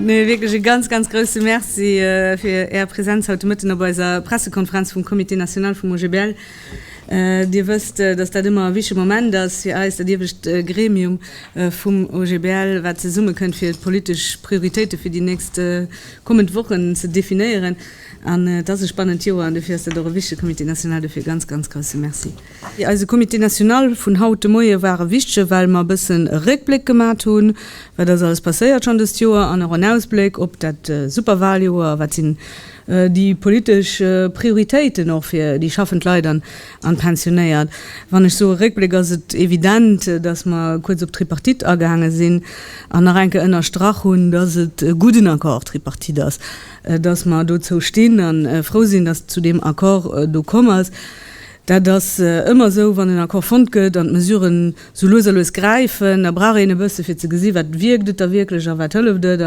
Nee, wierklech e ganz, ganz grousse Merci fir Är Präsenz haut de Mëtten op eiser Pressekonferenz vum Comité national vum OGBL. Dir wësst, datt dat ëmmer e wichtege Moment ass fir eis, dat iewescht Gremium vum OGBL, wat zesummekënnt, fir d'politesch Prioritéite fir déi nächst kommend Wochen ze definéieren. An et ass e spannend Joer an dofir ass dat och e wichtege Comité national. Dofir e ganz, ganz grousse Merci. Eise Comité national vun haut de Moie war e wichtege well mer e bëssen e Réckbléck gemat hunn, wat ass alles passéiert schonn dëst Joer, an och en Ausbléck op dat super Waljoer, wat sinn déi politesch Prioritéiten och fir déi schaffend Leit an d'Pensionéiert. Wann ech soe Réckbléck ass et evident, datt mer kuerz op d'Tripartite agaange sinn an nach eng Kéier ënnerstrach hunn, datt et e gudden Accord Tripartite ass. Dass mer dozou stinn a frou sinn, dass et zu deem Accord do komm ass. Dat ass ëmmer esou, wann en Accord fonnt gëtt an d'Mesuren esou lues a lues gräifen, da brauch een e bësse fir ze gesi wat wierkt et da wierklech a wat hëlleft et.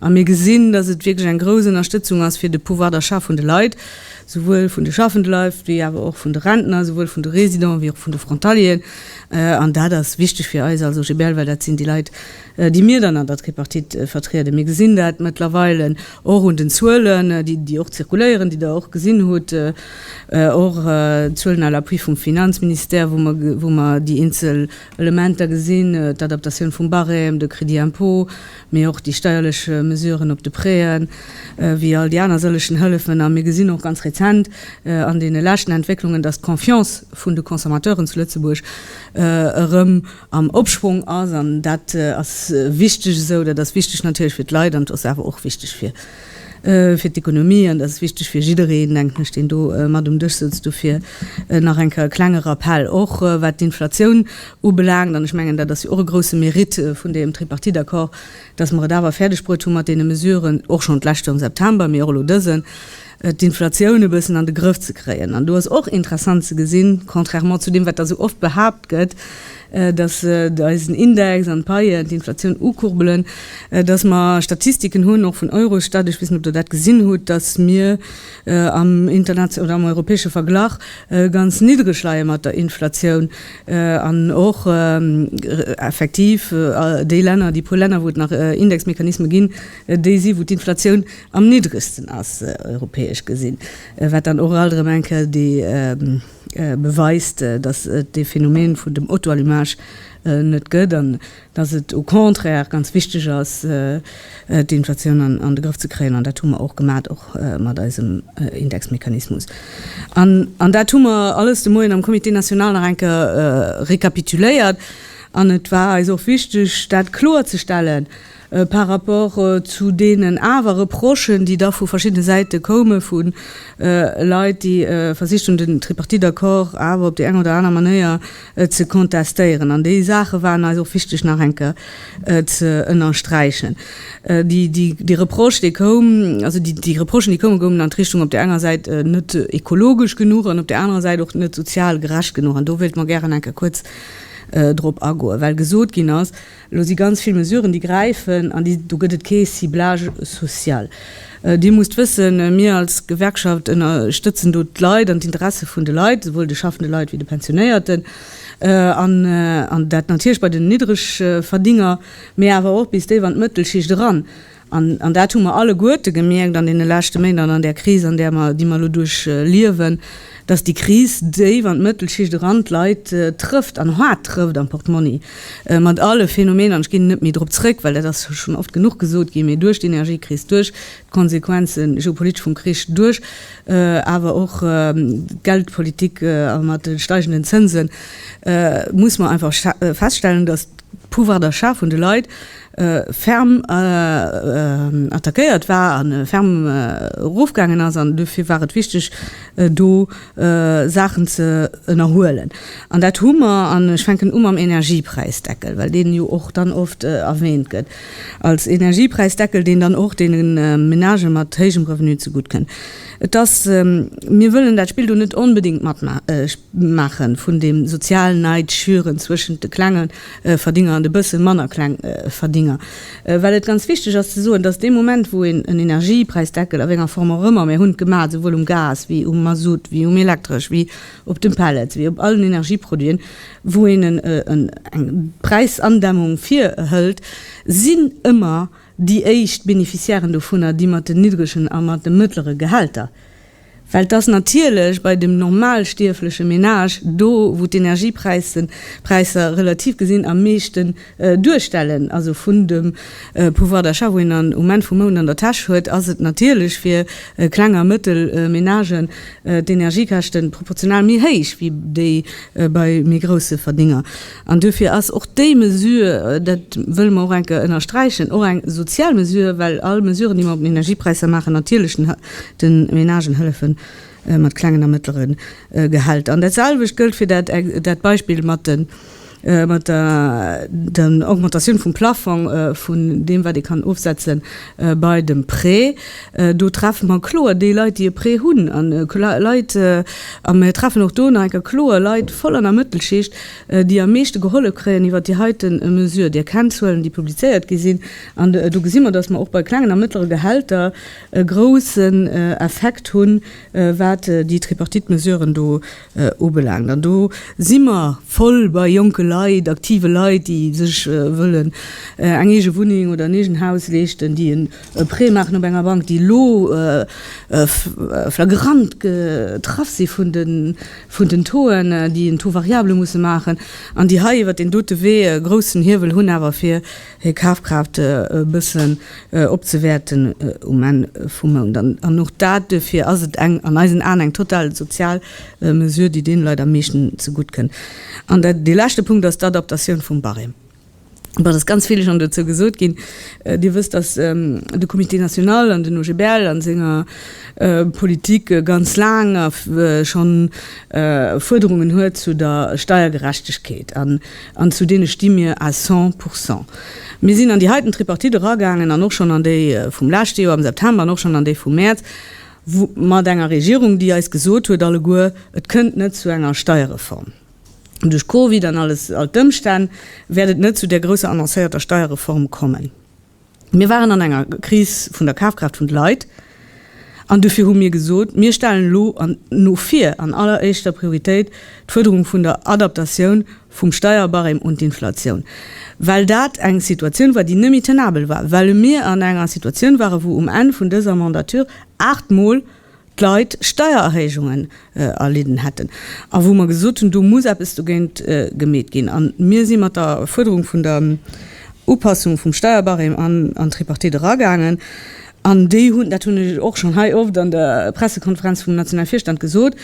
A mir gesinn, dass et wierklech eng grouss Ënnerstëtzung ass fir de Pouvoir d'achat vun de Leit, souwuel vun de schaffende Leit wéi awer och vun de Rentner, souwuel vun de Residenten wéi och vun de Frontalieren. An dat ass wichteg fir eis als OGBL, well dat sinn déi Leit, déi mir dann an der Tripartite vertrieden. Mir gesinn dat mëttlerweile och un den Zuelen, déi och zirkuléieren, déi Der och gesinn hutt, och d'Zuelen à l'appui vum Finanzministère, wou mer déi eenzel Elementer gesinn, d'Adaptatioun vum Barème, de Crédit impôt, mee och déi steierlech Mesuren op de Préen, wéi all déi aner sëllegen Hëllefen. A mir gesinn och ganz rezent an deene leschten Entwécklungen, dass d'Confiance vun de Consommateuren zu Lëtzebuerg erëm, am Opschwong ass. An dat ass wichteg esou. Dat ass wichteg natierlech fir d'Leit an et ass awer och wichteg fir d'Ekonomie. An dat ass wichteg fir jiddereen, denken ech, deen do mat um Dësch sëtzt. Dofir nach eng Kéier e klenge Rappell, och wat d'Inflatioun ubelaangt. An ech mengen, dat ass jo och e grousse Mérite vun deem Tripartite-Accord, dass mer et awer fäerdegbruet hu mat deene Mesuren, och schonn d'leschte am September, mee och elo dësen, d'Inflatioun e bëssen an de Grëff ze kréien. An do ass och interessant ze gesinn, contrairement zu deem, wat da sou oft behaapt gëtt, dass eisen Index an d'Paien d'Inflatioun ukurbelen, dass mer Statistiken hunn, och vun Eurostat, ech weess net, ob Der dat gesinn hutt, dass mir am internation oder am europäesche Verglach ganz niddreg leie mat der Inflatioun an och effektiv déi Länner, déi puer Länner, wou et nach Indexmechanisme ginn, déi si wou d'Inflatioun am niddregsten ass europäesch gesinn, wat dann och alt erëm eng Kéier déi beweist, datt et dee Phänomen vun dem Auto-allumage net gëtt an datt et au contraire ganz wichteg ass d'Inflatioun an de Grëff ze kréien an dat hu mer och gemat, och mat eisem Indexmechanismus an an dat hu mer alles de Moien am Comité national nach eng Kéier récapituléiert an et war eis och wichteg dat kloerzestellen. Par rapport zu deenen awer Reprochen, déi da vu verschiddene Säite koume vu Leit, déi versicht hunn, den Tripartite-Accord awer op déi eng oder aner Manéier ze contestéieren, an déi Saache waren eis och wichteg nach eng Kéier ze ënnersträichen, dee Reproche, dee koum, also déi Reprochen, déi koumen, goungen an d'Richtung, op där enger Säit net ekologesch genuch an op där anerer Säit och net sozial gerecht genuch. An do wéilte mer gären eng Kéier kuerz drop agoen, well gesot ginn ass, Elo si ganz vill Mesuren, déi gräifen, an do gëtt et kee Ciblage social. Dir musst wëssen, mir als Gewerkschaft ënnerstëtzen do d'Leit an d'Interesse vun de Leit, souwuel de schaffende Leit wéi de Pensionéierten, an dat natierlech bei den Niddregverdiener, mee awer och bis déif an d'Mëttelschicht eran. An dat hu mer alleguerte gemierkt an deene leschte Méint an an där Kris, an där mer, déi mer elo duerchliewen, dass déi Kris déif an d'Mëttelschicht eran, d'Leit trëfft an haart trëfft am Portmonni, mat alle Phänomener, an ech ginn net méi drop zrëck, well dat ass schonn oft genuch gesot ginn, mee duerch d'Energiekris, duerch d'Konsequenze geopolitesch vum Krich, duerch awer och d'Geldpolitik a mat de steigenden Zënsen, muss mer einfach feststellen, dass d'Pouvoir d'achat vun de Leit, ferm attackéiert war an ferm erofgaangen ass an dofir war et wichteg do Saachen ze ënnerhuelen. An dat hu mer, an ech fänken u mam Energiepräisdeckel, well deen jo och dann oft erwähnt gëtt als Energiepräisdeckel, deen dann och deene Menagë mat héijem Revenu zegutt kënn. Et ass, mir wëllen dat Spill do net onbedéngt matmaachen vun deem sozial Neid schüren zwëschent de Klengen Verdénger an de bësse manner kleng Verdénger. Well et ganz wichteg ass ze soen, dass dee Moment, wou een en Energiepräisdeckel, a wénger Form och ëmmer, mir hunn et gemaach, souwuel um Gas wéi um Mazout, wéi um Elektresch, wéi op de Pellets, wéi op allen Energieproduiten, wou een eng Präisandämmung virhëlt, sinn ëmmer déi éischt Beneficiairen dovunner déi mat den niddregen a mat de mëttlere Gehälter. Well et ass natierlech bei dem normalstierfleche Menage, do wou d'Energiepräisser relativ gesinn am meeschten duerstellen, also vun dem Pouvoir d'achat, wou een am Enn vum Mount an der Täsch huet, ass et natierlech fir Kleng a Mëttelmenagen d'Energiekäschten proportional méi héich wéi déi bei méi grousse Verdénger. An duerfir ass och déi Mesure, dat wëlle mer och eng Kéier ënnersträichen, och eng sozial Mesure, well all Mesuren, déi mer op den Energiepräisser maachen, natierlech de Menagen hëllefe mat klengen a mëttlere Gehälter. An datselwecht gëllt fir dat Beispill mat der Augmentatioun vum Plafong vun deem, wat ee kann ofsetzen. Bei dem Prêt, do treffe mer kloer déi Leit, déi e Prêt hunn, an Leit, a mer treffen och do nach eng Kéier kloer Leit voll an der Mëttelschicht, déi am meeschte gehollef kréien iwwert déi heite Mesure. Dir kennt d'Zuelen, déi publizéiert gi sinn, an do gesi mer, datt mer och bei klengen a mëttlere Gehälter e groussen Effekt hunn, wat déi Tripartite-Mesuren do Ubelaangt. An do si mer voll bei jonke Leit, aktive Leit, déi sech wëllen eng eege Wunneng oder en eegen Haus leeschten, déi en Prêt maachen op enger Bank, déi elo flagrant getraff si vun den Taux'en, déi en Taux variable musse maachen an déi hei iwwert deen dote Wee e groussen Hiewel hunn awer fir hir Kafkraaft e bëssen opzewäerten um Enn vum Mount. An och dat, duerfir ass et eng, an eisen Aen, eng total sozial Mesure, déi deene Leit am meeschten zegutt kënn. An dee leschte Punkt ass d'Adaptatioun vum Barème. Et ass ganz vill schonn dozou gesot ginn. Dir wësst, dass de Comité national an den OGBL a senger Politik ganz laang schonn Fuerderungen huet zu der Steiergerechtegkeet. An zu deene sti mir à cent pour cent. Mir sinn an déi heiten Tripartite eragaangen an och schonn an déi vum leschte Joer am September an och schonn an déi vum Mäerz, mat enger Regierung, déi eis gesot huet alleguer, et kënnt net zu enger Steierreform. Duerch Covid an all d'Ëmstänn wäert et net zu där grousser annoncéierter Steierreform kommen. Mir waren an enger Kris vun der Kafkraaft vun de Leit an dofir hu mir gesot, mir stellen elo no vir an alleréischter Prioritéit d'Fuerderung vun der Adaptatioun vum Steierbarème un d'Inflatioun, well dat eng Situatioun war, déi net méi tenabel war, well mir an enger Situatioun waren, wou um Enn vun dëser Mandature aachtmol, d'Leit Steiererhéijungen erlidden hätten a wou mer gesot hunn, do muss eppes dogéint gemeet ginn. A mir si mat der Fuerderung vun der Upassung vum Steierbarème an an d'Tripartite eragaangen. An déi hunn, dat hunn ech och schonn hei oft an der Pressekonferenz vum nationale Virstand gesot,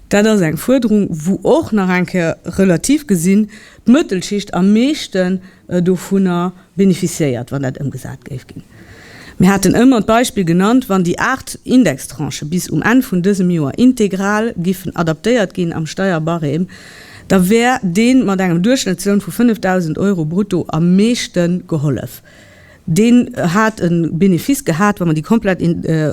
dat ass eng Fuerderung, wou och nach eng Kéier relativ gesinn d'Mëttelschicht am meeschten, dovunner beneficiéiert, wann dat ëmgesat géif ginn. Mir haten ëmmer d'Beispill genannt, wann déi aacht Indextranchë bis um Enn vun dësem Joer integral giffen adaptéiert ginn am Steierbarème, da wär dee mat engem Duerchschnëttsloun vu 5.000 Euro brutto am meeschte gehollef. Deen hat e Benefice gehat, wa mer déi komplett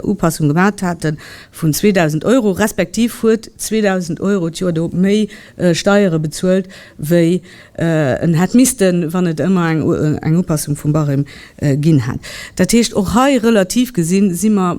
Upassung gemat haten, vun 2.000 Euro, respektiv huet 2.000 Euro d'Joer do méi Steiere bezuelt, wéi en hätt missten, wann et ëmmer eng Upassung vum Barème ginn hätt. Dat heescht, och hei relativ gesinn, si mer,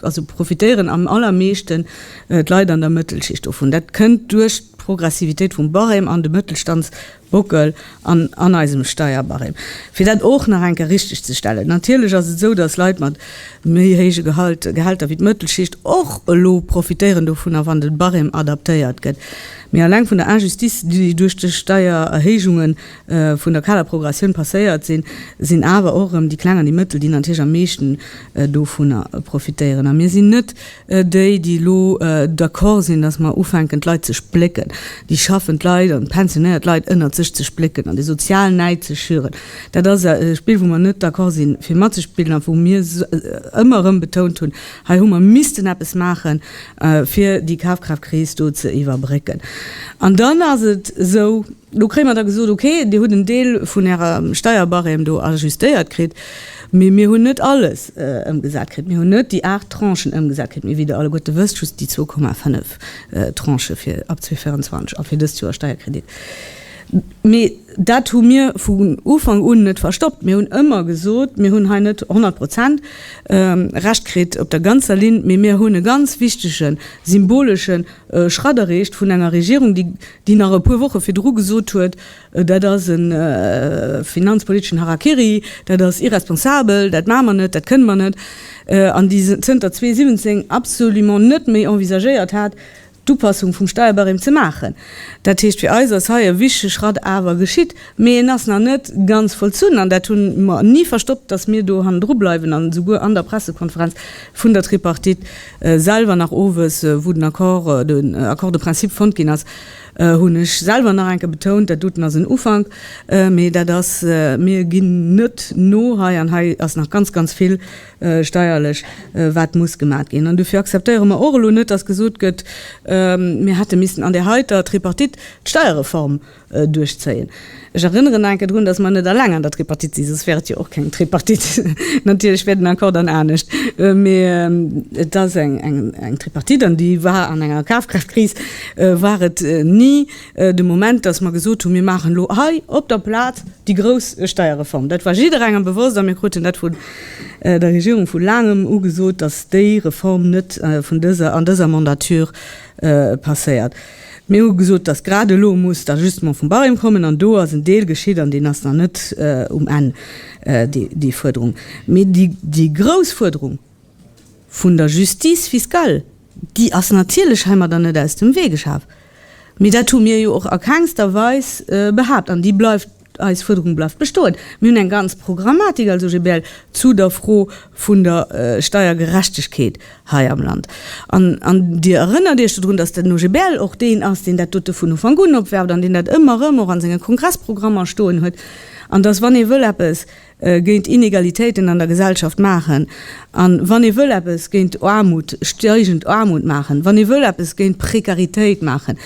also profitéieren am allermeeschten d'Leit an der Mëttelschicht dovun. Dat kënnt duerch d'Progressivitéit vum Barème an de Mëttelstands, Buckel an an eisem Steierbarème, fir dat och nach eng Kéier richteg ze stellen. Natierlech ass et esou, dass Leit mat méi héije Gehälter wéi d'Mëttelschicht och elo profitéieren dovunner, wann de Barème adaptéiert gëtt. Mee alleng vun der Injustice, déi duerch déi Steiererhéijunge vun der Kaderprogressioun passéiert sinn, sinn awer och erëm déi Kleng an déi Mëttel, déi natierlech am meeschten dovunner profitéieren. A mir sinn net Déi, déi elo d'accord sinn, datt mer ufänken d'Leit ze splécken, déi schaffend Leit an d'pensionéiert Leit ënnert sech ze splécken an de sozialen Näid ze schüren, dat ass e Spill, wou mer net d'accord sinn, fir matzespillen a wou mir ëmmer erëm betount hunn, Hei hu mer missten eppes maachen, fir déi Kafkraftkris do ze iwwerbrécken. An dann ass et esou. Do kréie mer da gesot, okay, Dir hutt en Deel vun Ärer Steierbarème do ajustéiert kritt, mee mir hunn net alles ëmgesat kritt. Mir hunn net déi aacht Tranchen ëmgesat kritt, mee wéi Der alleguerte wësst, just déi zwou Komma fënnef Tranchë fir ab 2024 a fir dëst Joer Steierkredit. Mee dat hu mir vun Ufank un net verstoppt. Mir hunn ëmmer gesot, Mir hunn hei net honnert Prozent Recht kritt op der ganzer Linn, mee mir hunn e ganz wichtege symboleschen Schratt erreecht vun enger Regierung, déi, déi nach e puer Woche virdru gesot huet, dat ass e finanzpoliteschen Harakiri, dat ass irresponsabel, dat maache mer net, dat kënne mer net, an déi zënter 2017 absolument net méi envisagéiert hat, d'Upassung vum Steierbarème ze maachen. Dat heescht, fir eis ass hei e wichtege Schratt awer geschitt, mee en ass nach net ganz vollzunn, an dat hu mer ni verstoppt, datt mir do hannendru bleiwen an esouguer an der Pressekonferenz vun der Tripartite, selwer nach owes, wou den Accord, den Accord de principe fonnt ginn ass, hunn ech selwer nach eng Kéier betount, dat doten ass en Ufank, mee dat ass, mir ginn net no hei an hei ass nach ganz, ganz vill steierlech, wat muss gemat ginn. An dofir akzeptéiere mer och elo net, dass gesot gëtt, mir hätte missten an där heiter Tripartite d'Steierreform duerchzéien. Ech erënneren nach eng Kéier drun, dass mer net alleng an der Tripartite sinn, soss wär et jo och keng Tripartite. Natierlech wär den Accord dann anescht, mee et ass eng Tripartite an déi war an enger Kafkraaft-Kris, war et ni de Moment, dass mer gesot hunn, mir maachen elo hei op der Plaz déi grouss Steierreform. Dat war jidderengem bewosst a mir kruten dat vun der Regierung vu laangem ugesot, dass déi Reform net vun dëser, an dëser Mandature passéiert. Mir hu gesot, dass grad elo muss d'Ajustement vum Barème kommen, an do ass en Deel geschitt an deen ass nach net um Enn, déi Fuerderung. Mee déi grouss Fuerderung vun der Justice fiscale, déi ass natierlech heimadder net aus dem Wee geschaf. Mee dat hu mir jo och a kengster Weis behaapt an déi bleift. Eis Fuerderung bleift bestoen. Mir hunn eng ganz Programmatik als OGBL zu der Fro vun der Steiergerechtegkeet hei am Land. An Dir erënnert Iech dodrun, dass den OGBL och deen ass, deen dat dote vun Ufank un opwerft an deen dat ëmmer erëm och a senge Kongressprogrammer stoen huet. An dass, wann ee wëll eppes géint Inegalitéiten an der Gesellschaft maachen, a wann ee wëll eppes géint Aarmut, steigend Aarmut maachen, wann ee wëll eppes géint Prekaritéit maachen,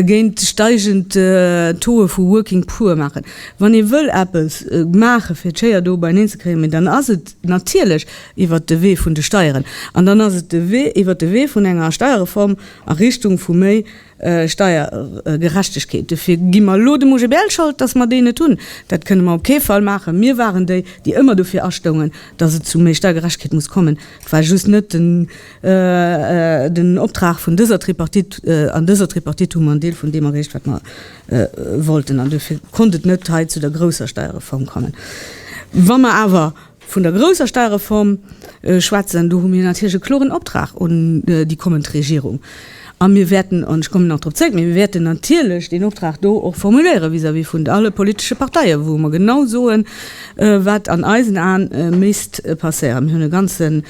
géint steigend Tauxë vu working poor maachen, wann ee wëll eppes maache fir d'Schéier do beineen ze kréien, mee dann ass et natierlech iwwert de Wee vun de Steieren. An dann ass et de Wee iwwert de Wee vun enger Steierreform a Richtung vu méi Steiergerechtegkeet, dofir gi mer elo dem OGBL Schold, datt mer déi net hunn. Dat kënne mer op kee Fall maachen. Mir waren déi, déi ëmmer dofir astoungen, datt et zu méi Steiergerechtegkeet muss kommen. Et war just net den Optrag vun dëser Tripartite. An dëser Tripartite hu mer en Deel vun deem erreecht, wat mer wollten. An dofir konnt et net hei zu der grousser Steierreform kommen. Wa mer awer Vun der grousser Steuerreform schwätzen, do hu mir natierlech e kloren Optrag un déi kommend Regierung. A mir wäerten, an ech kommen nach drop zréck, mä mir wäerten natierlech deen Optrag do och formuléiere vis-à-vis vun alle politesche Parteien, wou mer genau soen, wat an eisen Aen misst passéieren. Mir hunn e ganze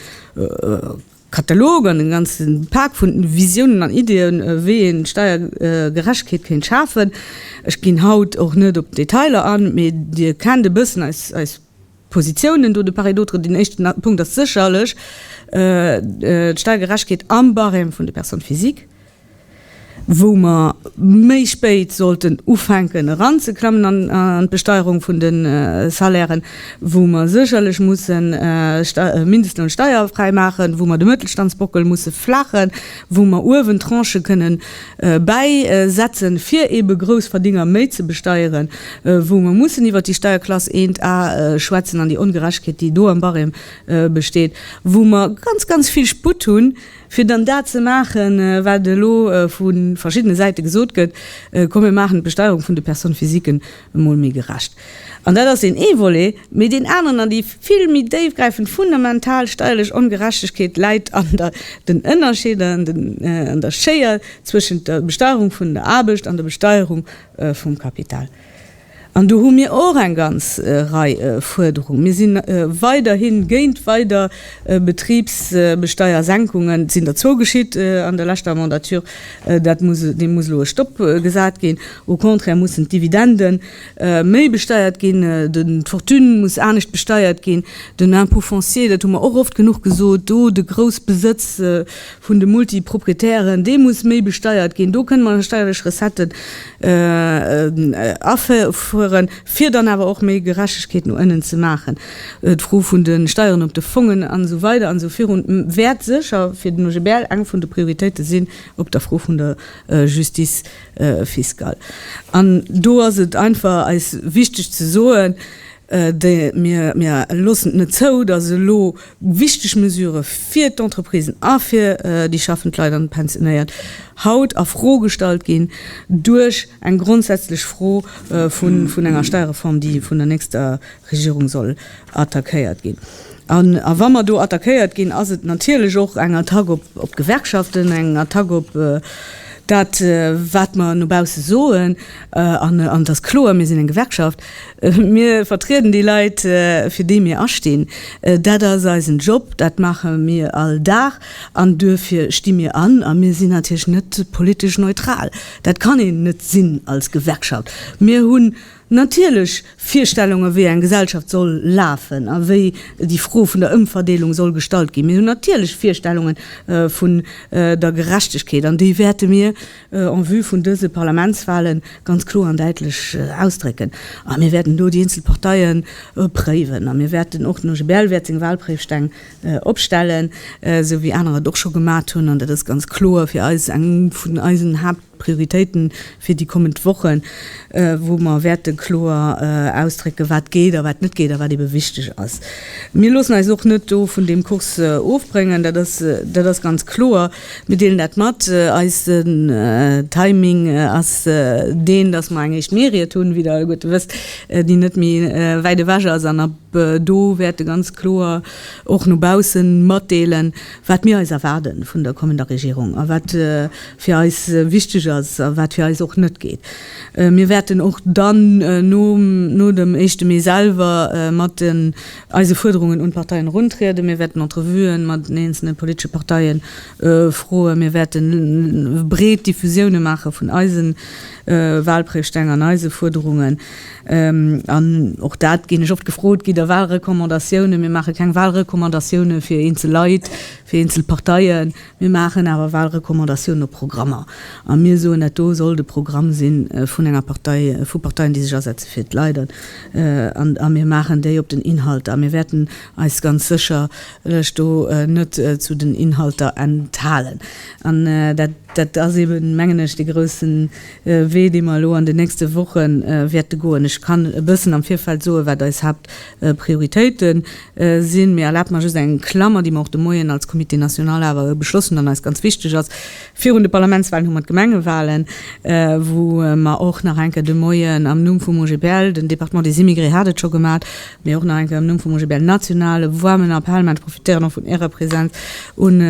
Katalog an e ganze Pak vu Visiounen an Ideeën, wéi ee Steuergerechtegkeet kéint schafen. Ech ginn haut och net op d'Detailer an, mä Dir kennt e bëssen eis Positiounen do. De part et d'autre, deen éischten Punkt ass sécherlech d'Steiergerechtegkeet am Barème vun de Personnes physiques, wou mer méi spéit sollten ufänken eranzeklammen an d'Besteierung vun de Salairen, wou mer sécherlech mussen Mindestloun steierfräi maachen, wou mer de Mëttelstandsbockel musse flaachen, wou mer uewen Tranchë kënnen Bäi setzen, fir ebe Groussverdénger méi ze besteieren, wou mer mussen iwwert déi Steierklass 1 A schwätzen an déi Ongerechtegkeet, déi do am Barème besteet, wou mer ganz, ganz vill Sputt hunn, fir dann dat ze maachen, wat elo vu verschiddene Säite gesot gëtt, Komm, mir maachen d'Besteierung vun de Personnes physiquen emol méi gerecht. An dat ass deen ee Volet. Mee deen aneren an déi vill méi déifgräifend fundamental steierlech Ongerechtegkeet läit an den Ënnerscheeder an der Schéier zwëschent der Besteierung vun der Aarbecht an der Besteierung vum Kapital. An do hu mir och eng ganz Rei Fuerderungen. Mir si weiderhi géint weider Betribsbesteiersenkungen. Et sinn der zwou geschitt an der leschter Mandature. Deem muss elo e Stopp gesat ginn. Au contraire mussen d'Dividenden méi besteiert ginn, d'Fortune muss anescht besteiert ginn, den Impôt foncier, dat hu mer och oft genuch gesot, do de Groussbesëtz vun de Multiproprietären, dee muss méi besteiert ginn, do kënne mer steierlech Recetten afueren, fir dann awer och méi Gerechtegkeet no ënnen ze maachen. D'Fro vun de Steieren op de Fongen an esou weider an esou virun wäert sécher fir den OGBL eng vun de Prioritéite sinn, op der Fro vun der Justice Fiscal. An do ass et einfach eis wichteg ze soen, Mir loossen et net zou, dass elo wichteg Mesurë fir d'Entreprisen a fir déi schaffend Leit an déi Pensionéiert haut a Fro gestallt ginn duerch eng grondsätzlech Fro vun enger Steierreform, déi vun der nächster Regierung soll attackéiert ginn. An a wa mer do attackéiert ginn, ass et natierlech och eng Attack op d'Gewerkschaften, eng Attack op dat, wat mer no bausse soen. An et ass kloer, mir sinn eng Gewerkschaft, mir vertrieden déi Leit, fir déi mir astinn. Dat ass eisen Job, dat maache mir all Dag an duerfir sti mir an. A mir sinn natierlech net politesch neutral, dat kann een net sinn als Gewerkschaft. Mir hunn natierlech Virstellungen, wéi eng Gesellschaft soll lafen a wéi déi Fro vun der Ëmverdeelung soll gestallt ginn. Mir hunn natierlech Virstellunge vun der Gerechtegkeet an déi wäerte mir en vue vun dëse Parlamentswahle ganz kloer an däitlech ausdrécken. A mir wäerten do déi eenzel Parteie préiwen a mir wäerten och, den OGBL wäert seng Wahlpréifsteng opstellen, esou wéi aner et och scho gemat hunn, an dat ass ganz kloer fir eis eng vun eisen Haapt-, Prioritéite fir déi kommend Wochen, wou mer wäerte kloer ausdrécken, wat geet a wat net geet a wat eebe wichteg ass. Mir loossen eis och net do vun deem Kurs ofbréngen, dat ass, dat ass ganz kloer. Mir deelen dat mat. Eisen Timing ass deen, dass mer eng éischt Mähried hunn, wéi Der alleguerte wësst, déi net méi wäit ewech ass an a do wäerte ganz kloer och no baussen matdeelen, wat mir eis erwaarde vun der kommender Regierung a wat fir eis wichteg ass a wat fir eis och net geet. Mir wäerten och dann no dem éischte Mee selwer mat eise Fuerderungen un d'Parteien eruntrieden. Mir wäerten Entrevuen mat den eenzelne politesche Parteien Froen. Mir wäerten breet Diffusioune maache vun eise Walprésteng an eise Fuerderungen. An och dat ginn ech oft gefrot, Gitt Der Walrecommandatiounen? Mir maache keng Walrecommandatiounen fir eenzel Leit, fir eenzel Parteien. Mir maachen awer Walrecommandatiounen op Programmer. A mir soen, dat do soll de Programm si vun enger Partei, vu Parteien, déi sech asetze fir d'Leit. A mir maachen déi op den Inhalter. A mir wäerten eis ganz sécher lech do net zu den Inhalter enthalen. An dat ass eeben, mengen ech, dee grouse Wee, dee mer elo an den nächste Woche wäerte goen. Ech kann e bëssen am Virfeld soen, wat eis Haaptprioritéite sinn. Mee erlaabt mer just eng Klammer, déi mer och de Moien als Comité national awer beschloss hunn an eis ganz wichteg ass, Virun de Parlamentswalen hu mer d'Gemengewalen, wou mer och nach eng Kéier de Moien am Numm vum OGBL, den Département des Immigrés hat et scho gemaat, Mee och nach eng Kéier am Numm vum OGBL National, e woarmen Appell, mä ech profitéieren och vun Ärer Präsenz, un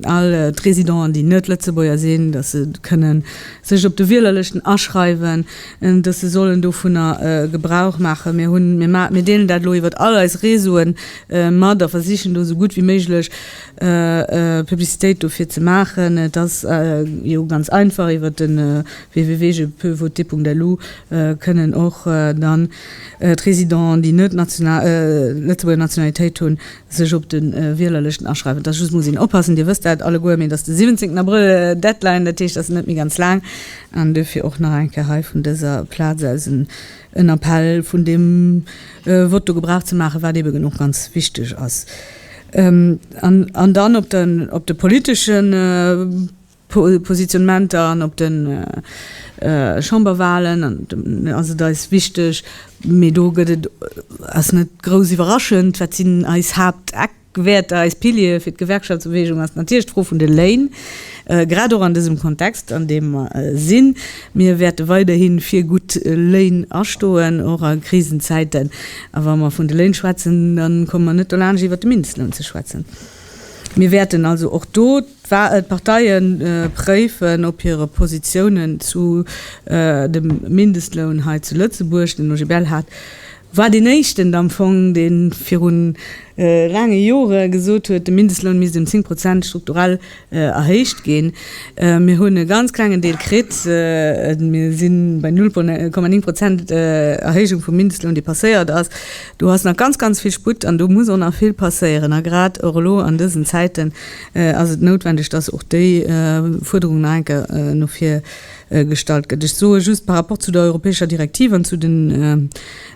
all d'Résidenten, déi net Lëtzebuerger sinn, datt se kënnen sech op de Wielerlëschten aschreiwen, datt se sollen dovunner Gebrauch maachen. Mir hunn, mir deelen dat elo iwwert all eis Réseaue mat a versichen do esou gutt wéi méiglech Publicitéit dofir ze maachen. Et ass jo ganz einfach, iwwert de www. Je peux voter. Lu kënnen och dann d'Résidenten, déi net Lëtzebuerger Nationalitéit hunn, sech op de Wielerlëschten aschreiwen. Et ass just, muss een oppassen, Dir wësst dat alleguer, mee et ass de 17 Abrëll d'Deadline, dat heescht, et ass net méi ganz laang. An duerfir och nach eng Kéier hei vun dëser Plaz aus en Appell, vun deem Vott do Gebrauch ze maachen, wat eben och ganz wichteg ass. An dann op de politeschen. Positionnementer an op de Chamberwahlen, an ass et eis wichteg, mee do gëtt et, ass net grouss iwwerraschend, wat sinn eis Haapteckwäerter, eis Piliere fir d'Gewerkschaftsbeweegung, ass natierlech d'Fro vun de Léin, grad och an dësem Kontext, an deem mer sinn. Mir wäerte weiderhi fir gutt Léin astoen, och a Krisenzäiten. A wa mer vun de Léin schwätzen, da komme mer net dolaanscht iwwert de Mindestloun ze schwätzen. Mir wäerten also och do D'Parteie préifen, ob hire Positiounen zu dem Mindestloun hei zu Lëtzebuerg, den OGBL hat war deen éischten am Fong, dee viru laange Jore gesot huet, de Mindestloun misst ëm zéng Prozent strukturell erhéicht ginn. Mir hunn e ganz klengen Deel kritt, mir si bei null Komma néng Prozent Erhéijung vum Mindestloun, dee passéiert ass. Do ass nach ganz, ganz vill Sputt an do muss och nach vill passéieren a grad och elo an dësen Zäiten, ass et noutwendeg, dass och déi Fuerderung nach eng Kéier no vir gestallt gëtt. Ech soe just par rapport zu der europäescher Direktiv an zu den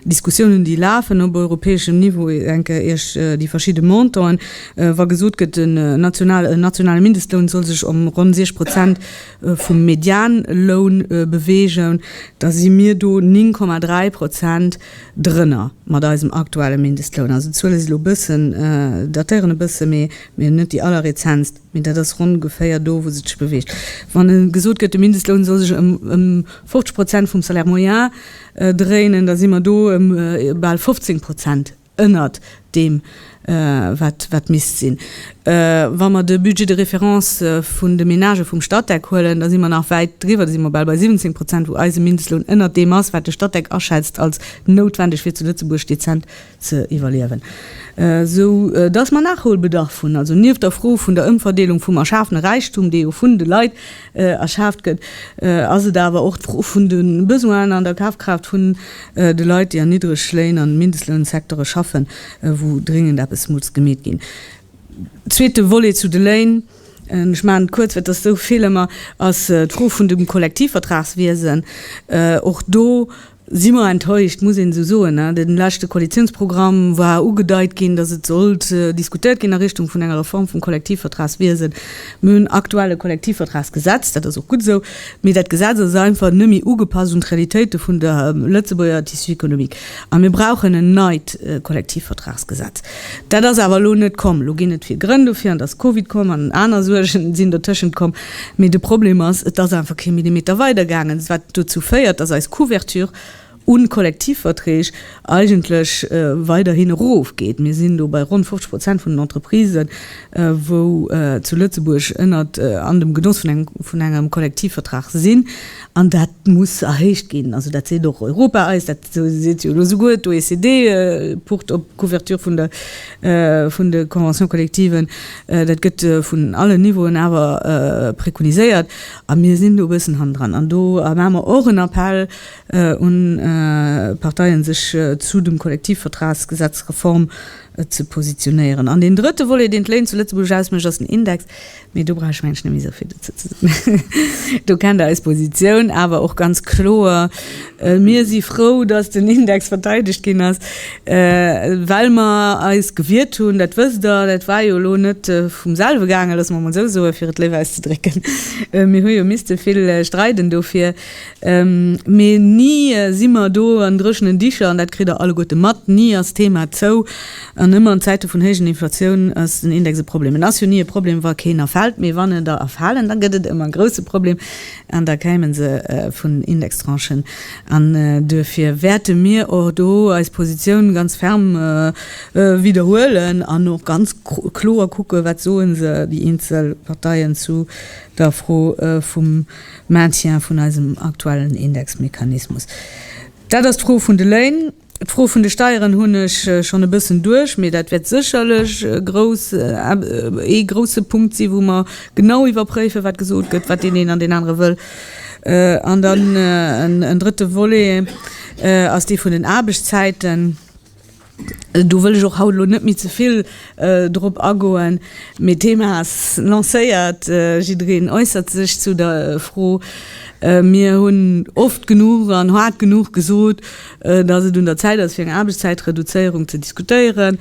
Diskussiounen, déi lafen op europäeschem Niveau, ech denken Iech déi verschidde Montanten, wa gesot gëtt, en nationale Mindestloun soll sech ëm ronn 6 Prozent vum Medianloun beweegen, da si mir do 9,3 Prozent drënner mat eisem aktuelle Mindestloun. Also d'Zuele si elo e bëssen, datéieren e bësse méi. Mee net déi allerrezentst, mee dat ass ronn ongeféier do, wou se sech beweegt. Wann gesot gëtt, de Mindestloun soll sech ëm 50 Prozent vum Salaire moyen dréinen, da si mer do bal 15 Prozent ënnert deem, wat misst sinn. Wa mer de Budget de référence vun de Menagë vum Statec huelen, da si mer nach wäit driwwer, da si mer bal bei 17 Prozent, wou eise Mindestloun ënnert deem ass, wat de Statec aschätzt als noutwendeg, fir zu Lëtzebuerg dezent ze iwwerliewen, sou dass mer Nachholbedarf hunn, also nieft der Fro vun der Ëmverdeelung vum erschafene Räichtum, dee jo vun de Leit erschaaft gëtt, ass et awer och d'Fro vun de Besoinen an der Kafkraaft vun de Leit, déi an Niddregléin an Mindestlounsecteure schaffen, wou dringend eppes muss gemeet ginn. Zweete Volet zu de Léin, ech maachen et kuerz, well et ass esou vill ëmmer, ass d'Fro vun dem Kollektivvertragswiesen. Och do Si mer enttäuscht, muss een esou soen. Am leschte Koalitiounsprogramm war ugedeit ginn, datt et sollt diskutéiert ginn a Richtung vun enger Reform vum Kollektivvertragswiesen. Mir hunn aktuell e Kollektivvertragsgesetz, dat ass och gutt esou, mee dat Gesetz ass einfach net méi ugepasst un d'Realitéite vun der Lëtzebuerger Tissu économique a mir brauchen en neit Kollektivvertragsgesetz. Dat ass awer elo net komm. Elo ginn et vill Grënn dofir, an da ass Covid komm an aner Suergen sinn dotëschent komm. Mee de Problem ass, et ass einfach kee Millimeter weidergaangen, wat dozou féiert, dass eis Couverture u Kollektivverträg eigentlech weiderhin erofgeet. Mir sinn do bei ronn 50 Prozent vun den Entreprisen, wou zu Lëtzebuerg ënnert an dem Genoss vun engem Kollektivvertrag sinn. An dat muss erhéicht ginn. Also dat seet och Europa eis, dat seet jo elo souguer d'OECD, Port op d'Couverture vun de Conventions collectives. Dat gëtt vun allen Niveauen awer prekoniséiert a mir sinn do e bëssen hannendran. An do maache mer och en Appell un d'Parteien, sech zu dem Kollektivvertragsgesetz, Reform, ze positionéieren. An deen drëtte Volet, deen d'Léin zu Lëtzebuerg ausmécht, ass den Index. Mee do brauch ech mengen, ech net méi esou vill dozou ze soen. Do kennt Der eis Positioun awer och ganz kloer. Mir si frou, dass den Index verteidegt ginn ass, well mer eis gewiert hunn, dat wësst Der, dat war jo elo net vum selwe gaangen, loosse mer mol esou soen, fir et léif auszedrécken, mir hu jo misste vill streiden dofir, mee ni si mer do an dréchenen Dicher, an dat kritt Der alleguerte mat, ni ass d'Thema zou, an ëmmer an Zäite vun héijen Inflatioun ass den Index e Problem. En ass jo ni e Problem, wa keen erfält, mee wann en der erfalen, da gëtt et ëmmer e grouse Problem. An da kämen se vun Indextranchen. An duerfir wäerte mir och do eis Positioun ganz ferm widderhuelen an och ganz kloer kucken, wat soen se, déi eenzel Parteien, zu der Fro vum Maintien vun eisem aktuellen Indexmechanismus. Dat ass d'Fro vun de Léin. D'Fro vun de Steieren hunn ech schonn e bëssen duerch, mee dat wäert sécherlech ee grousse Punkt sinn, wou mer genau iwwerpréifen, wat gesot gëtt, wat deen een an deen anere wëll. An dann en drëtte Volet ass dee vun den Aarbechtszäiten. Do wëll ech och haut elo net méi ze vill drop agoen, mee d'Thema ass lancéiert, jiddereen äussert sech zu der Fro. Mir hunn oft genuch an haart genuch gesot, dass et un der Zäit ass fir eng Aarbechtszäitreduzéierung ze diskutéieren.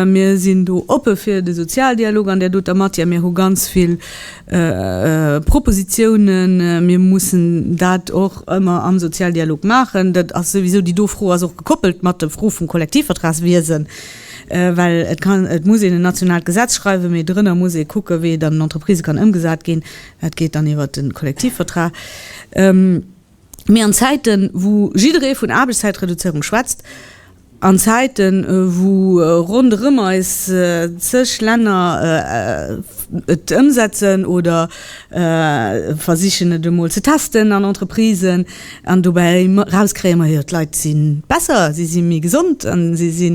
Mir sinn do oppe fir de Sozialdialog an där doter Matière. Mir hu ganz vill Propositionen. Mir mussen dat och ëmmer am Sozialdialog maachen. Dat ass souwisou, déi do Fro ass och gekoppelt mat der Fro vum Kollektivvertragswiesen, well et kann, et muss een en nationaalt Gesetz schreiwen, mee dorënner muss ee kucken, wéi et an den Entreprisë kann ëmgesat ginn. Dat geet dann iwwert de Kollektivvertrag. Mee an Zäiten, wou jidderee vun Aarbechtszäitreduzéierung schwätzt, an Zäiten, wou ronderëm eis zeg Länner et ëmsetzen oder versichen, et emol ze testen an Entreprisen, an dobäi erauskréien, Ma jo, d'Leit si besser, si si méi gesond an si si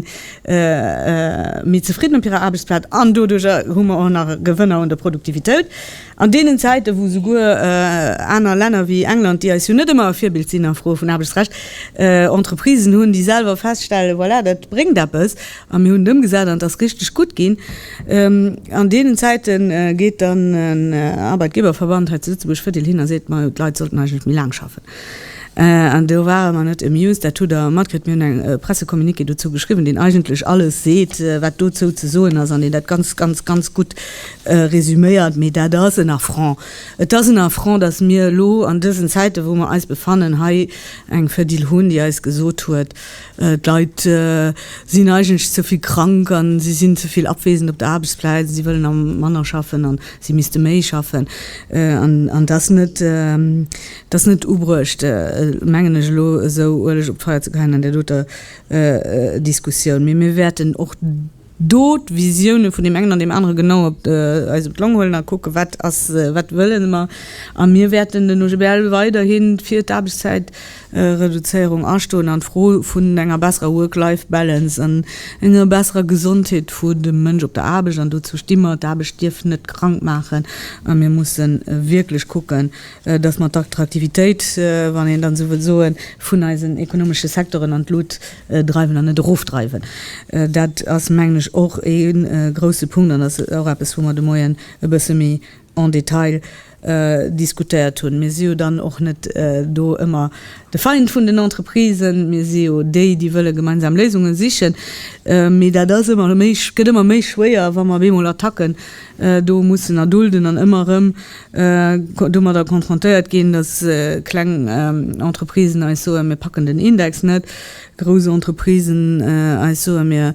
méi zefridden op hirer Aarbechtsplaz an doduerjer hu mer och nach Gewënner un der Produktivitéit, An deenen Zäiten, wou souguer aner Länner wéi England, déi eis jo net ëmmer e Virbild sinn a Froe vun Aarbechtsrecht, Entreprisen hunn, déi selwer feststellen, voilà, dat bréngt eppes a mir hunn et ëmgesat an et ass richteg gutt ginn, an deenen Zäite geet dann en Arbeitgeberverband hei zu Lëtzebuerg fidel hin a seet, majo, d'Leit sollten eigentlech méi laang schaffen. An do ware mer net amused. Dat hutt Der matkritt. Mir hunn e Pressecommuniqué dozou geschriwwen, deen eigentlech alles seet, wat dozou ze soen ass an deen dat ganz, ganz, ganz gutt Resuméiert, mee dat ass en Affront. Et ass en Affront, datt mir elo an dësen Zäiten, wou mer eis befannen, hei eng Fedil hunn, déi eis gesot huet, d'Leit sinn eigentlech ze vill krank an si sinn ze vill abwesend op der Aarbechtsplaz, si wëllen am manner schaffen an si misste méi schaffen. An dat ass net ubruecht, mengen ech, elo esou Ueleg op d'Feier ze geheien an där doter Diskussioun. Mee mir wäerten och. do d'Visioune vun deem engen an deem anere genau op eis op d'Long huelen a kucke wat ass, wat wëlle mer. A mir wäerten den OGBL weiderhi fir d'Aarbechtszäitreduzéierung astoen an d'Fro vun enger besserer Work-Life-Balance an enger besserer Gesondheet vu dem Mënsch op der Aarbecht. An dozou sti mer. D'Aarbecht dierf net krank maachen a mir musse wierklech kucken, dass mer d'Attraktivitéit, wann een dann esou wëll soen, vun eisen ekonomesche Secteuren an d'Lut dreiwen an net erofdreiwen. Dat ass, mengen ech, och e grouse Punkt an ass och eppes, wou mer de Moien e bësse méi en Detail diskutéiert hunn. Mir si jo dann och net do ëmmer de Feind vun den Entreprisen, mir si jo déi, déi wëlle gemeinsam Léisunge sichen. Mee dat ass ëmmer méi, gëtt ëmmer méi schwéier, wa mer op eemol Attacken do mussen erdulden an ëmmer erëm domadder konfrontéiert ginn, dass kleng Entreprisen eis soen, mir packen den Index net, grouss Entreprisen eis soen, mir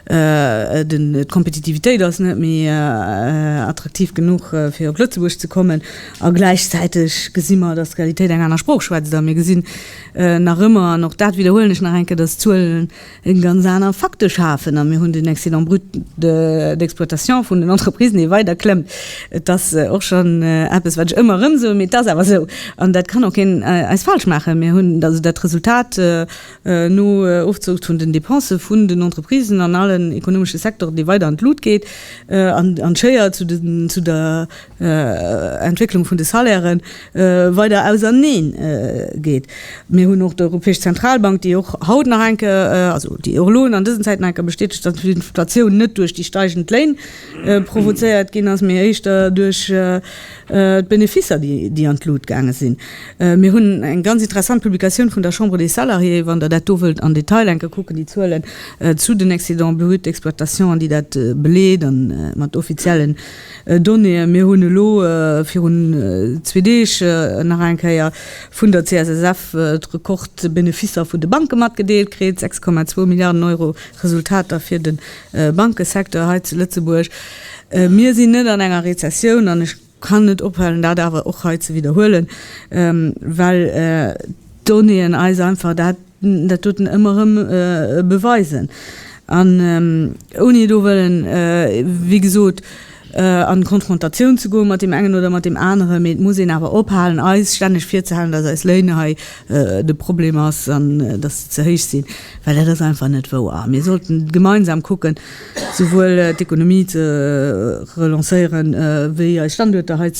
d'Kompetitivitéit ass net méi attraktiv genuch fir op Lëtzebuerg ze kommen, a gläichzäiteg gesi mer, dass d'Realitéit eng aner Sprooch schwätzt a mir gesinn nach ëmmer, an och dat widderhuelen ech nach eng Kéier, dass d'Zuelen e ganz aner Facteur schafen a mir hunn den Excédent brut d'exploitation vun den Entreprisen, dee weider klëmmt. Et ass och schonn eppes, wat ech ëmmer erëm soen, mee et ass awer esou an dat kann och keen eis falsch maachen. Mir hunn also dat Resultat no Ofzug vun den Dépensë vun den Entreprisen an allen ekonomesche Secteuren, dee weider an d'Lut geet an an d'Schéier zu de zu der Entwécklung vun de Salairen weider auserneen geet. Mir hunn och d'Europäesch Zentralbank, déi och haut nach eng Kéier, also déi och elo an dësen Zäiten eng Kéier bestätegt, datt d'Inflatioun net duerch déi steigend Léin provozéiert ginn ass, mee éischter duerch d'Beneficer, déi an d'Lut gaange sinn. Mir hunn eng ganz interessant Publikatioun vun der Chambre des Salariés, wann Der dat do wëllt am Detail eng Kéier kucken, déi Zuelen zu den Excédents bruts d'exploitation an déi dat beleet a mat offiziellen Donnéeën. Mir hunn elo virun zwee Deeg nach eng Kéier vun der CSSF d'Rekord-Beneficer vun de Banke matgedeelt kritt, 6,2 Milliarden Euro Resultater fir de Bankesecteur hei zu Lëtzebuerg. Mir sinn net an enger Rezessioun an ech kann net ophalen, dat awer och hei ze widderhuelen, well d'Donnéeën eis einfach dat dat doten ëmmer erëm beweisen an ouni do wëllen, wéi gesot, an Konfrontatioun ze goen mat deem engen oder mat deem aneren, mee et muss een awer ophalen, eis stänneg virzehalen, dass eis Léiner hei de Problem ass an dass se ze héich sinn, well dat ass einfach net wouer. Mir sollten gemeinsam kucken, souwuel d'Ekonomie ze relancéieren, wéi eis Standuerter hei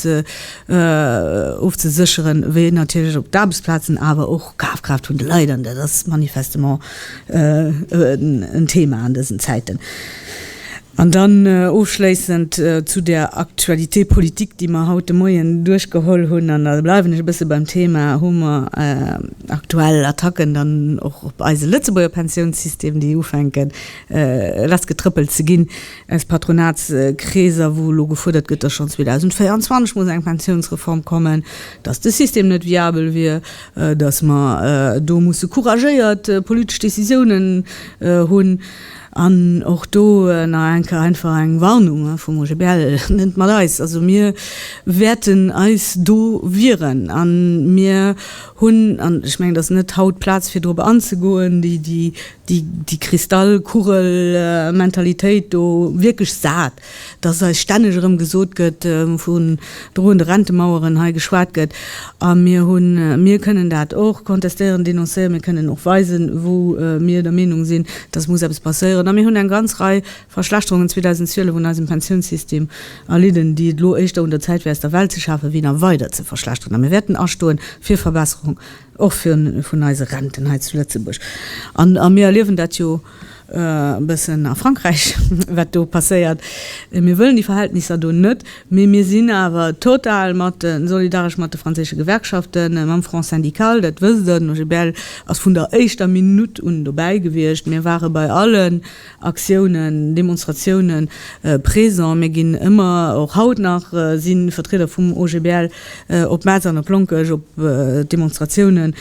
ofzesécheren, wéi natierlech och d'Aarbechtsplazen, awer och Kafkraaft vun de Leit, an dat ass manifestement en Thema an dësen Zäiten. An dann ofschléissend zu där Actualité politique, déi mer haut de Moien duerchgeholl hunn, an da bleiwen ech e bësse beim Thema, hu mer aktuell Attacken dann och op eise Lëtzebuerger Pensiounssystem, déi ufänken, lass getrëppelt ze ginn aus Patronatskreeser, wou elo gefuerdert gëtt, datt schonn 2024 muss eng Pensiounsreform kommen, datt de System net viabel wier, datt mer do musse couragéiert politesch Décisiounen hunn. An och do nach eng Kéier einfach eng Warnung vum OGBL, net mat eis! Also mir wäerten eis do wieren a mir hunn, an ech mengen et ass net haut d'Plaz fir dorop anzegoen, déi déi Kristallkugel-Mentalitéit do wierklech sat, dass eis stänneg erëm gesot gëtt, vun droende Rentemaueren hei geschwat gëtt. A mir hunn, mir kënnen dat och kontestéieren, denoncéieren, mir kënnen och weisen, wou mir der Meenung sinn, dass muss eppes passéieren. A mir hunn eng ganz Rei Verschlechterungen 2012 un eisem Pensiounssystem erlidden, déi et elo éischter un der Zäit wär aus der Welt ze schafen, wéi nach weider ze verschlechteren. A mir wäerten astoen fir Verbesserung. Och fir vun eise Renten hei zu Lëtzebuerg. An, a mir erliewen dat jo e bëssen a Frankräich, wat do passéiert. Mir wëllen déi Verhältnisser do net, mee mir sinn awer total mat de, solidaresch mat de franséische Gewerkschaften, mam Front syndical, dat wësst Der. Den OGBL ass vun der éischter Minutt un dobäi gewiescht. Mir ware bei allen. Aktiounen, Demonstratiounen présent. Mir ginn ëmmer, och haut nach si Vertrieder vum OGBL op Metz an op Lonkech op Demonstratiounen.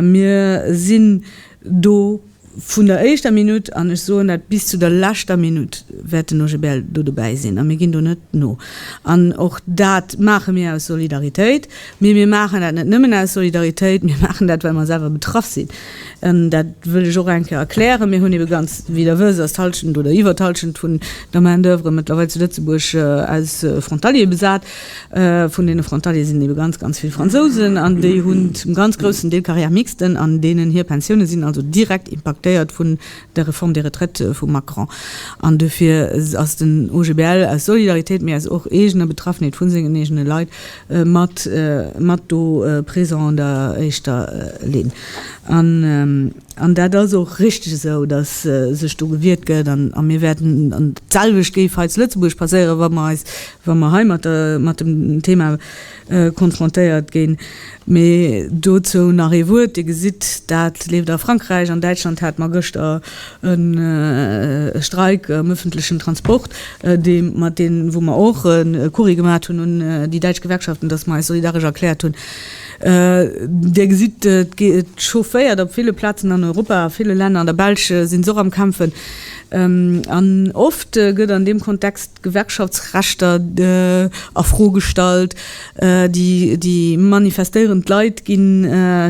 Mir sinn do vun der éischter Minutt an, ech soen dat, bis zu der leschter Minutt wäert den OGBL do dobäi sinn a mir ginn do net no. An och dat maache mir aus Solidaritéit. Mee mir maachen dat net nëmmen aus Solidaritéit, mir maachen dat, well mer selwer betraff sinn. Dat wëll ech och eng Kéier erklären, Mir hunn ebe ganz, wéi Der wësst, ass d'Halschent oder iwwer d'Halschent vun der Main d'oeuvre mëttlerweil zu Lëtzebuerg aus Frontaliere besat. Vun deene Frontaliere sinn ebe ganz, ganz vill Fransousen an déi hunn zum ganz groussen Deel Carrière mixte an deenen hir Pensioune sinn also direkt impaktéiert vun der Réforme des retraites vum Macron. An dofir ass den OGBL aus Solidaritéit, mee aus och eegener Betraffenheet vu sengen eegene Leit, mat mat do présent an der éischter Linn an an dat ass och richtig esou, dass sech do gewiert gëtt an a mir wäerten an d'selwecht géif hei zu Lëtzebuerg passéieren, wa mer eis wa mer hei mat der mat dem Thema konfrontéiert ginn. Mee dozou nach ee Wuert, Dir gesitt, dat leeft a Frankräich, an Däitschland hate mer gëschter, e Streik am öffentlechen Transport, dee mat dee wou mer och e Courrier gemaat hunn un déi däitsch Gewerkschaften, datt mer eis solidaresch erkläert hunn. Dir gesitt, et chaufféiert op ville Plazen an Europa, a ville Länner, an der Belsch si se och am Kämpfen, an oft gëtt an deem Kontext, Gewerkschaftsrechter a Fro gestallt, déi manifestéierend Leit gi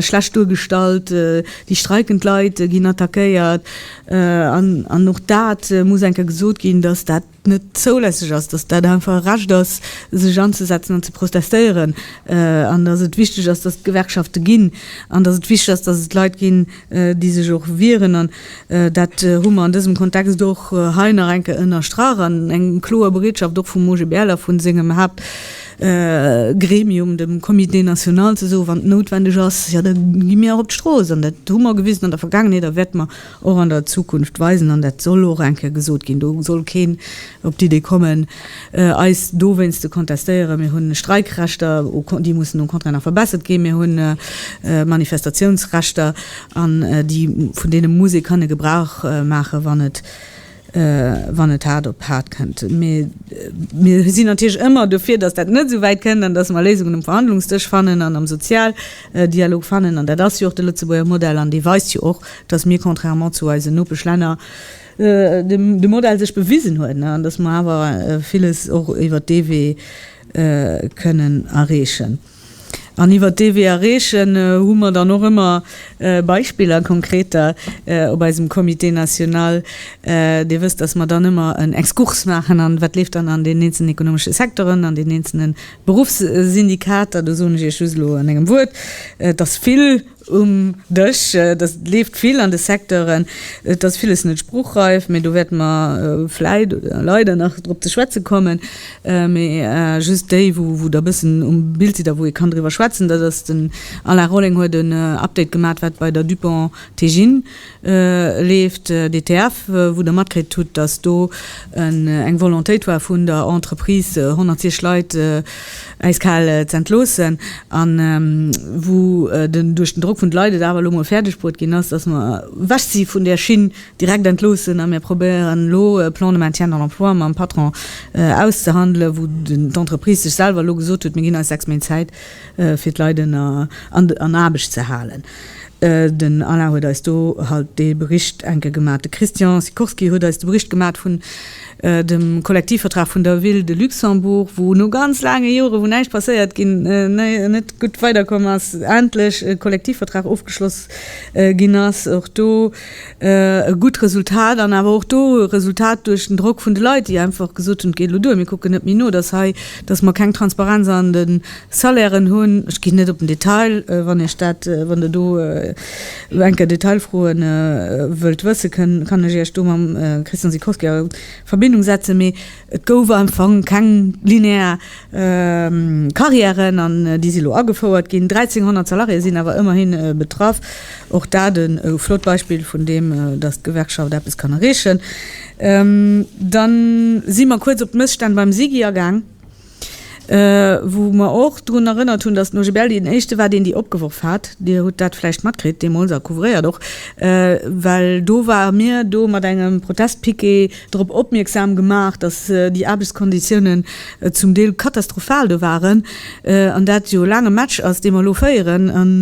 schlecht duergestallt, déi streikend Leit ginn attackéiert. An och dat muss eng Kéier gesot ginn, datt dat net zoulässeg ass, datt dat einfach e Recht ass, sech anzesetzen an ze protestéieren, an datt et wichteg ass, datt et Gewerkschafte ginn, an datt et wichteg ass, datt et Leit ginn, déi sech och wieren, an dat hu mer an dësem Kontext och hei nach eng Kéier ënnerstrach, an eng kloer Bereetschaft och vum OGBL a vu sengem Haaptgremium, dem Comité national, ze soen, wann et noutwendeg ass, jo da gi mir och op d'Strooss. An dat hu mer gewisen an der Vergaangenheet a wäerte mer och an der Zukunft weisen, an dat soll och eng Kéier gesot ginn. Do soll keen op d'Idee kommen, eis dowéinst ze kontestéieren. Mir hunn Streikrechter, déi mussen au contraire nach verbessert ginn. Mir hunn Manifestatiounsrechter, an déi, vun deene muss ee kënne Gebrauch maachen, wann et, wann et haart op haart kënnt. Mee mir sinn natierlech ëmmer dofir, datt dat net esou wäit kënnt, an datt mer Léisungen um Verhandlungsdësch fannen an am Sozialdialog fannen. An dat ass jo och de Lëtzebuerger Modell, an dee weist jo och, datt mir, contrairement zu eisen Nopeschlänner, de Modell sech bewisen huet an dass mer awer villes och iwwert dee Wee kënnen erreechen. An iwwert dee Wee erreechen hu mer dann och ëmmer Beispiller, konkreter op eisem Comité national. Dir wësst, dass mer dann ëmmer en Exkurs maachen an wat leeft dann an den eenzelnen ekonomesche Secteuren, an den eenzelne Beruffssyndikater. Do soen ech Iech just elo an engem Wuert, dass vill, Um Dësch, dat leeft vill an de Secteuren. Et ass villes net spruchreif, mee do wäerte mer vläit oder leider nach drop ze schwätze kommen. Mee just déi, wou Der e bëssen um Bild sidd a wou ee kann driwwer schwätzen, dat ass, den Alain Rolling huet en Update gemat, wat bei der Dupont Teijin leeft d'ETF, wou Der matkritt hutt, dass do eng Volontéit war vun der Entreprise 106 Leit äis kal z'entloossen, a wou den duerch den Drock vun de Leit et awer elo mol fäerdeg bruet ginn ass, dass mer ewech si vun där Schinn direkt entloossen, a mir probéieren elo e Plan de maintien dans l'emploi mam Patron auszehandelen, wou d'Entreprise sech selwer elo gesot huet, Mir ginn eis sechs Méint Zäit fir d'Leit ënner an Aarbecht ze halen. Den Alain huet eis do halt dee Bericht enke gemat. De Christian Sikorski huet eis de Bericht gemat vun dem Kollektivvertrag vun der Ville de Luxembourg, wou no ganz laange Jore wou näischt passéiert ginn, net gutt weiderkomm ass, endlech e Kollektivvertrag ofgeschloss ginn ass. Och do e gutt Resultat an awer och do e Resultat duerch den Drock vun de Leit, déi einfach gesot hunn, et geet elo duer, mir kucken net méi no, dass hei, dass mer keng Transparenz an de Salairen hunn, ech ginn net op den Detail, wann Iech dat, wann Der do elo enker Detailfroe wëllt wëssen, kann ech Iech do mam Christian Sikorski a Verbindung setzen, mee et gouf am Fong keng linear Carrièren an déi si elo agefouert ginn. 1.300 Salariéë sinn awer ëmmerhi betraff, och dat e flott Beispill vun deem, datt d'Gewerkschaft eppes kann erreechen. Dann si mer kuerz op d'Mësstänn beim SIGI agaang. wou mer och drun erënnert hunn, datt den OGBL deen éischte war, deen déi opgeworf hat. Dir hutt dat vläicht matkritt deemools a couvréiert och, well do ware mir do mat engem Protestpiquet drop opmierksam gemaach, datt déi Aarbechtskonditiounen zum Deel katastrophal do waren an dat jo laang e Match ass, dee mer elo féieren an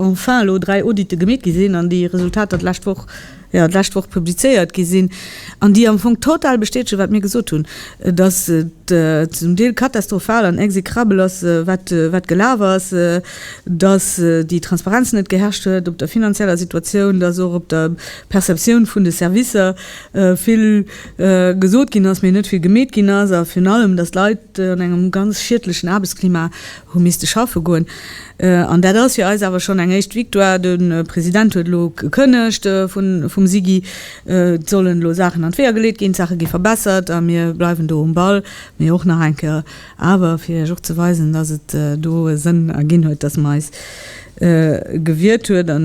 enfin elo dräi Audite gemeet gi sinn an déi Resultater d'lescht Woch jo, d'lescht Woch publizéiert gi sinn an déi am Fong total bestätegen, wat mir gesot hunn, dass et zum Deel katastrofal an exécrabel ass, wat, wat gelaf ass, dass déi Transparenz net geherrscht huet op der finanzieller Situatioun, dass och op der Perceptioun vun de Servicer vill gesot ginn ass, mee net vill gemeet ginn ass a virun allem, dass d'Leit, déi an engem ganz schiedlechen Aarbechtsklima hu misste schaffe goen, an dat ass fir eis awer schonn eng éischt Victoire. De President huet elo gekënnegt vum SIGI, et sollen elo Saachen an d'Weeër geleet ginn, d'Saache gi verbessert a mir bleiwen do um Ball. Mee och nach eng Kéier awer, fir Iech och ze weisen, dass et do e Sënn erginn huet, dass mer eis gewiert huet a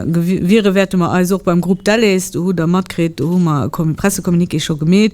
gewiere wäerte mer eis och beim Groupe Delhaize. Do hutt Der matkritt, do hu mer e Pressecommuniqué scho gemeet,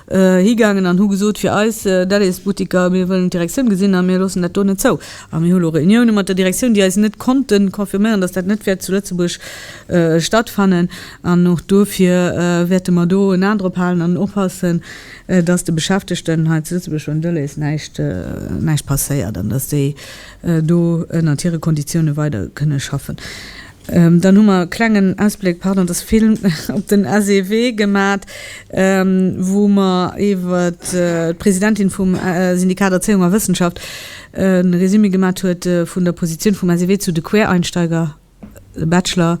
higaangen an hu gesot, fir eis Delhaize-Butteker, mir wëllen d'Direktioun gesinn a mir loossen dat do net zou. A mir hu lo Reunioune mat der Direktioun, déi eis net konnte confirméieren, datt dat net wäert zu Lëtzebuerg stattfannen. An och dofir wäerte mer do en A drop halen an oppassen, datt de Beschäftegten hei zu Lëtzebuerg beim Delhaize näischt passéiert an datt déi do ënnert hire Konditioune weider kënne schaffen. Dann hu mer e klengen Ausbléck, pardon, dass vill op den SEW gemat, wou mer iwwer d'Presidentin vum Syndikat Erzéiung a Wëssenschaft e Résumé gemat huet vun der Positioun vum SEW zu de Quereinsteiger, de Bachelor.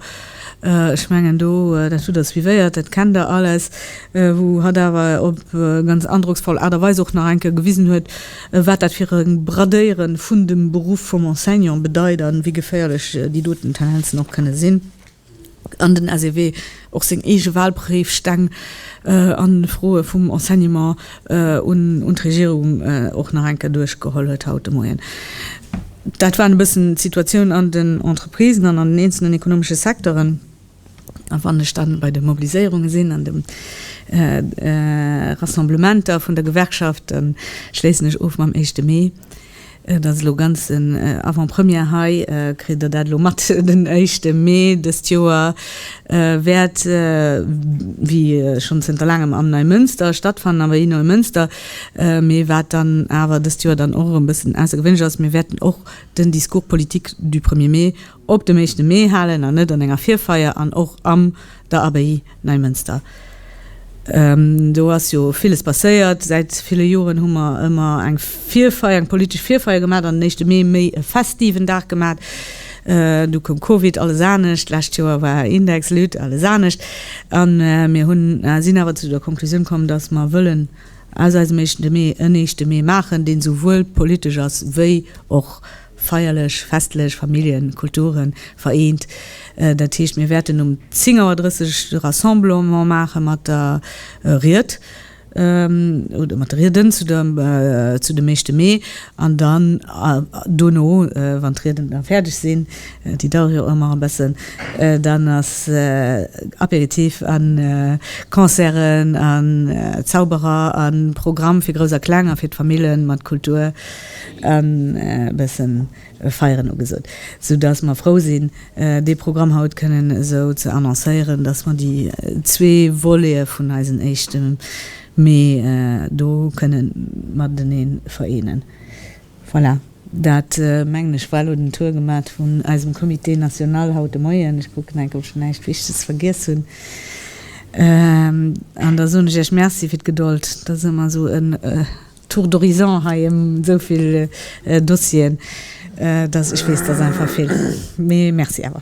Ech mengen do, dat hutt Der suivéiert, dat kennt Der alles, wou hatt awer op ganz androcksvoll Aart a Weis och nach eng Kéier gewisen huet, wat dat fir e Bradéiere vun dem Beruff vum Enseignant bedeit a wéi geféierlech déi doten Tendenzen och kënne sinn an den SEW och seng eege Wahlpréifsteng a Froe vum Enseignement un d'Regierung och nach eng Kéier duerchgeholl huet haut de Moien. Dat waren e bëssen d'Situatioun an den Entreprisen an an den eenzelnen ekonomesche Secteuren. A wann ech dann bei de Mobiliséierunge sinn an de Rassemblementer vun der Gewerkschaft, da schléissen ech of mam éischte Mee. Et ass elo ganz en Avant-première hei. Kritt Der dat elo mat? Den éischte Mee dëst Joer wäert wéi schonn zënter laangem am Neimënster stattfannen. Awer ee Neumënster, mee wat dann awer dëst Joer dann och erëm e bëssen aussergewéinlech ass, mir wäerten och den Discours politique du premier mai, Op dem éischte Mee halen an net an enger Virfeier an och am der Abbaye Neimënster. Do ass jo villes passéiert. Säit ville Joren hu mer ëmmer eng Virfeier, eng politesch Virfeier gemat an den éischte Mee méi e festiven Dag gemat. Du koum Covid, alles anescht. Lescht Joer war Index, Lutte, alles anescht. A mir hunn, sinn awer zu der Konklusioun komm, dass mer wëllen aus eisem éischte Mee en éischte Mee maachen, deen souwuel politesch ass wéi och, Feierlech, festlech, Familljen, Kulturen, vereent. Dat heescht, mir wäerten um 10 Auer 30 de Rassemblement maache mat der Ried oder mat de Rieden zu der zu dem Éischte Mee an dann dono, wann d'Rieden da fäerdeg sinn, déi dauere jo ëmmer e bëssen, dann ass Apéritif a Concerten a Zauberer a Programm fir Grouss a Kleng a fir d'Famille mat Kultur. an e bëssen Feieren ugesot, sou dass mer frou sinn, dee Programm haut kënnen esou ze annoncéieren, dass mer déi zwee Volete vun eisen éischte Mee do kënne matenee vereenen. Voilà, dat mengen ech war elo den Tour gemat vun eisem Comité national haut de Moien. Ech kucken enk, ob ech näischt Wichteges vergiess hunn. An da soen ech Iech Merci fir d'Gedold, dass e mer esou e. Tour d'horizon hei em esou vill Dossieren, dass ech weess, dass einfach vill, mee merci awer.